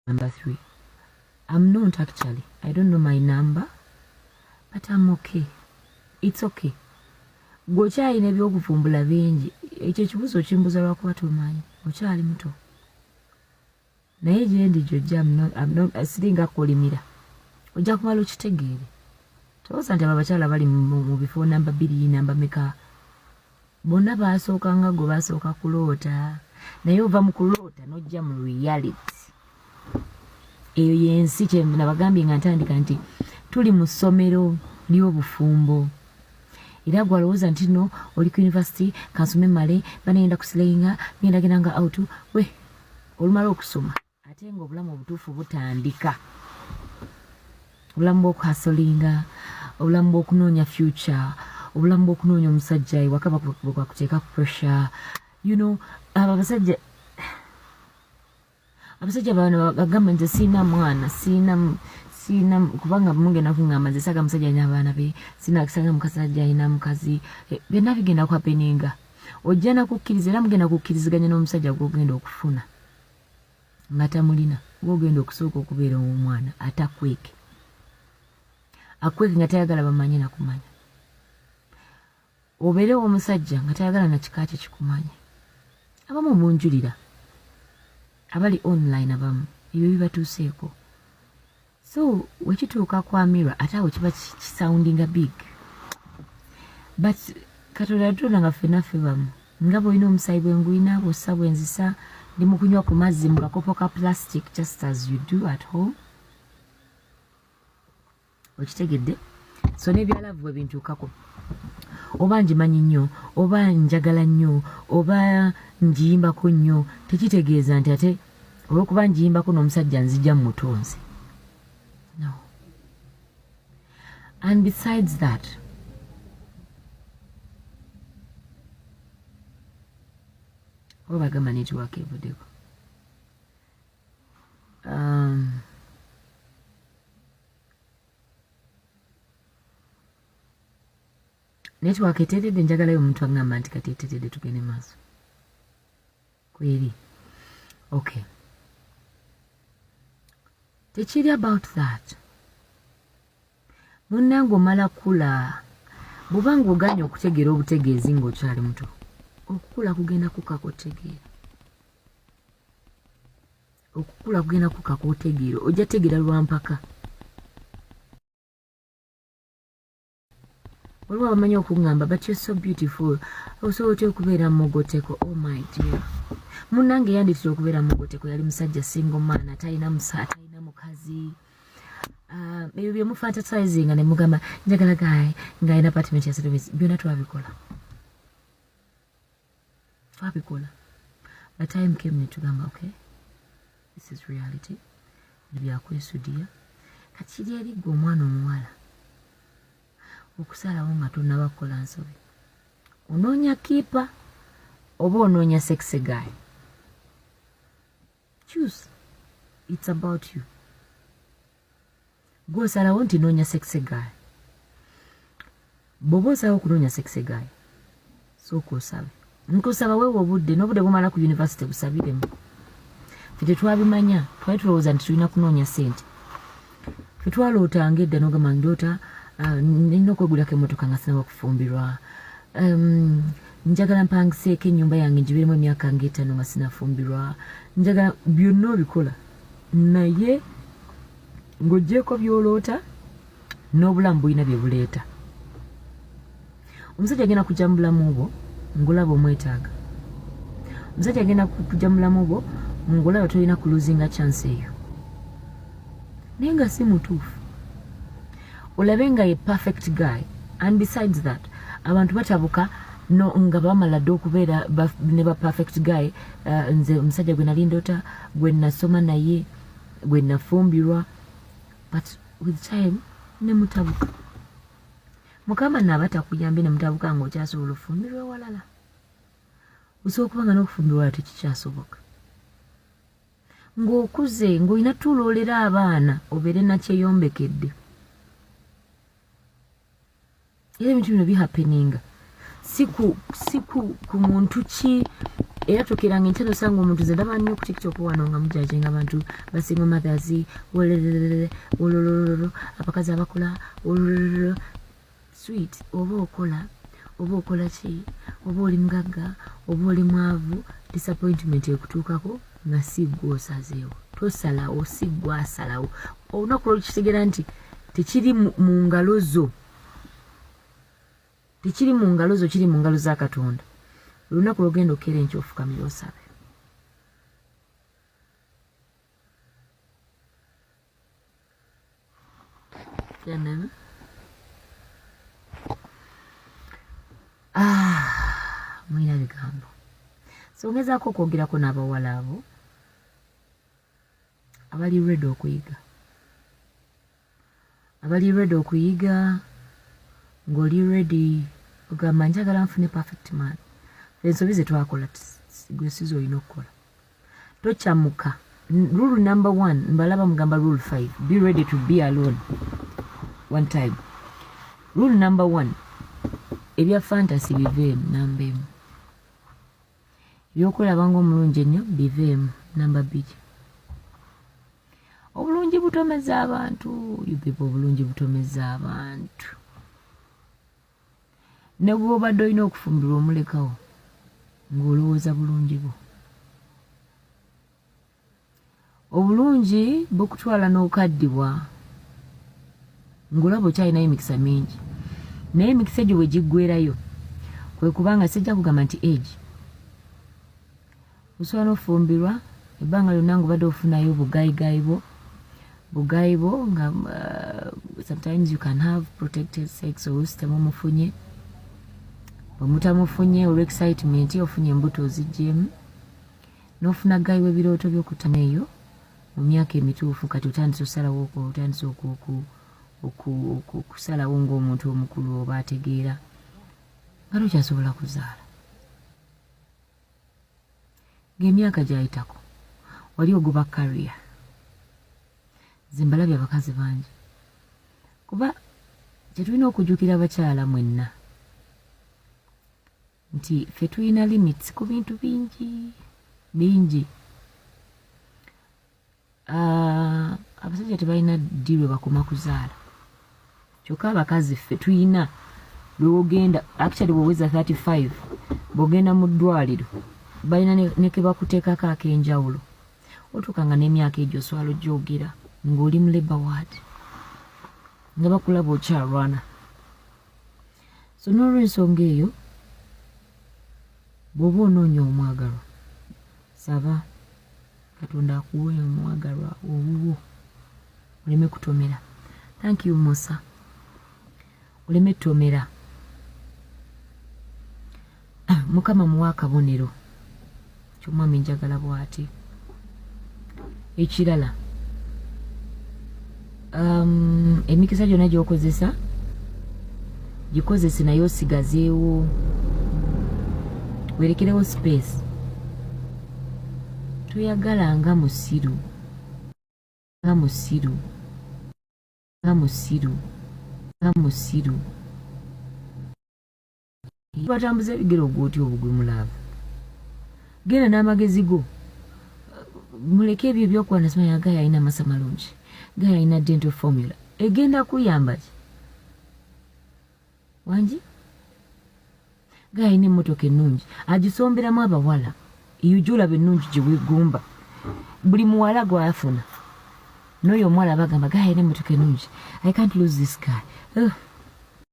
number three i'm not actually i don't know my number but i'm okay it's okay gwe okyalina ebyokuvumbula bingi ekyo ekibuzo okimbuza lwakuba tomanyi okyali muto naye gyendi gyojja siringa kolimira ojja kumala okitegeere tolowooza nti abo abakyala bali mu bifo namba biri namba meka bonna baasooka nga gwe basooka kuloota naye ova mu kuloota n'ojja mu reality eyo yensi kyenabagambye nga ntandika nti tuli mu ssomero ly'obufumbo era gwe alowooza nti no oli ku univesity kansome male banagenda kusilainga ngenda genda nga out we olumala okusoma ate nga obulamu obutuufu butandika obulamu bwokuhasolinga obulamu bwokunoonya future obulamu bwokunoonya omusajja ewaka bwekwakuteeka ku pressure you know abo abasajja abasajja bano bagamba nti siina mwana siina siina kubanga mugenda kungamba nze saga musajja alina abaana be siina kisanga mukasajja alina mukazi eh, byonna bigenda kwapeninga ojja nakukkiriza era mugenda kukkiriziganya n'omusajja gwogenda okufuna nga tamulina ng'ogenda okusooka okubeera ow'omwana atakweke akweke nga tayagala bamanye nakumanya obeere ow'omusajja nga tayagala na kika kye kikumanye abamu munjulira abali online abamu ebyo bibatuuseeko so wekituuka ku amira ate awo kiba kisoundinga big but katonda yatutonda nga ffena ffe bamu nga bwolina omusaayi bwengulina bwossa bwenzisa ndi mukunywa ku mazzi mu kakopo ka plastic just as you do at home okitegedde so nebyalavu bwe bintuukako oba ngimanyi nnyo oba njagala nnyo oba ngiyimbako nnyo tekitegeeza nti ate olwokuba njiyimbako n'omusajja nzija mu mutunzi no and besides that oba bagamba netiwaaka evuddeko um, netiwaaka eteredde njagalayo omuntu agamba nti kati eteredde tugende maaso kweri okay tekiri about that munnange omala kula bwoba ngaoganye okutegeera obutegeezi ngaokyali muto okukula kugenda kukaka otegeera okukula kugenda kukaka otegeera ojja tegeera lwampaka waliwo abamanyi okungamba but you're so beautiful osobola otya okubeera mugoteko oh my dear munange yanditira okubeera mugoteko yali musajja single man atalina musa atalina mukazi ah, ebyo byemufantasizing ne mugamba njagala gaye ng'alina apartment ya service byonna twabikola twabikola by time came netugamba okay this is reality ebyakwesudiya kati kiri eri gwe omwana omuwala okusalawo nga tonaba kukola nsobi onoonya kiipa oba onoonya sexe guy choose it's about you gwe osalawo nti noonya sexe guy bwoba osalawo okunoonya sexe guy sooka osabe nkusaba wewe obudde n'obudde bumala ku yunivasite busabiremu fe tetwabimanya twali tulowooza nti tulina kunoonya sente twaloota nga edda nogamba ndoota ah, nina okwegulako emotoka nga sinawa kufumbirwa njagala mpangiseeko enyumba yange njibiremu emyaka nga etano nga sinafumbirwa njagala byonna obikola naye ng'ogyeko byoloota n'obulamu bulina bye buleeta omusajja agenda kujja mu bulamu bwo ngolaba omwetaaga omusajja agenda kujja mu bulamu bwo ngolaba tolina kuluzinga chance eyo naye nga si mutuufu olabe nga ye perfect guy and besides that abantu batabuka no nga bamala dde okubeera ne ba perfect guy uh, nze omusajja gwe nali ndota gwe nasoma naye gwe nafumbirwa but with time nemutabuka mukama naaba takuyambye ne mutabuka nga okyasobola ofumbirwa ewalala osobola okuba nga n'okufumbirwa wala tekikyasoboka ng'okuze ng'olina tuloolera abaana obeere nakyeyombekedde era ebintu bino bihapeninga si ku si ku ku muntu ki era tukirange nti nosanga omuntu ze ndaba nnyo ku tiktok wano nga mujajenga abantu basinga mothers wololololo wololololo abakazi abakula wololololo sweet oba okola oba okola ki oba oli mugagga oba oli mwavu disappointment ekutuukako nga si gwe osazeewo tosalawo si gwe asalawo olunaku lwolukitegera nti tekiri mu ngalo zo tekiri mu ngalo zo kiri mu ngalo za katonda olunaku lwogenda okukera enkya ofukamira osabe ah, mulina bigambo songezaako okwogerako n'abawala abo abali ready okuyiga abali ready okuyiga ng'oli ready ogamba njagala nfune perfect man ensobi zetwakola gwe siza olina okukola tokyamuka rule number one mbalaba mugamba rule five be ready to be alone one time rule number one ebya fantasy biveemu namba emu ebyokulaba ngaomulungi ennyo biveemu namba bbiri obulungi butomeza abantu yubiba obulungi butomeza abantu ne bwobadde olina okufumbirwa omulekawo ng'olowooza bulungi bwo obulungi bukutwala n'okaddibwa ng'olaba okyalinayo emikisa mingi naye emikisa egyo bwe giggwerayo kwe kubanga sijja kugamba nti egi osobola n'ofumbirwa ebbanga lyonna ngaobadde ofunayo obugayigayi bwo bugayi bwo nga uh, sometimes you can have protected sex olusitemumufunye bwemutamufunye olwexcitement ofunye embuto ozijjemu nofuna gayi webirooto byokutama eyo mu myaka emituufu kati otandise osalawo otandise okusalawo ngaomuntu omukulu oba ategeera nga tokyasobola kuzaala ngaemyaka gyayitako wali ogoba kariya zimbalabye abakazi bangi kuba kyetulina okujukira abakyala mwenna nti ffe tulina limits ku bintu bingi bingi ah, abasajja tebalina ddi lwe bakoma kuzaala kyokka abakazi ffe tulina lwewogenda actually bweweza 35 bwogenda mu ddwaliro balina nekebakuteekako ak'enjawulo otuuka nga n'emyaka egyo oswala ojogera ng'oli mu labor ward nga bakulaba okyalwana so n'olwensonga eyo bw'oba onoonya omwagalwa saba katonda akuwe omwagalwa owuwo oleme kutomera thank you musa oleme tomera Ah, mukama muwa akabonero kyomwami njagala bwati ekirala um, emikisa gyona gyokozesa gikozese naye osigazeewo werekerewo space toyagala nga musiru nga musiru nga musiru nga musiru batambuza ebigere ogwoti obugwe mulaavu genda n'amagezi go muleke ebyo ebyokwana simanya gayo alina amasa malungi gayo alina dental formula egenda kuyamba ki wangi gayo alina emmotoka ennungi agisomberamu abawala eyujulaba ennungi gye wegumba buli muwala gwafuna n'oyo omuwala bagamba gayo alina emmotoka ennungi i can't lose this guy Ugh.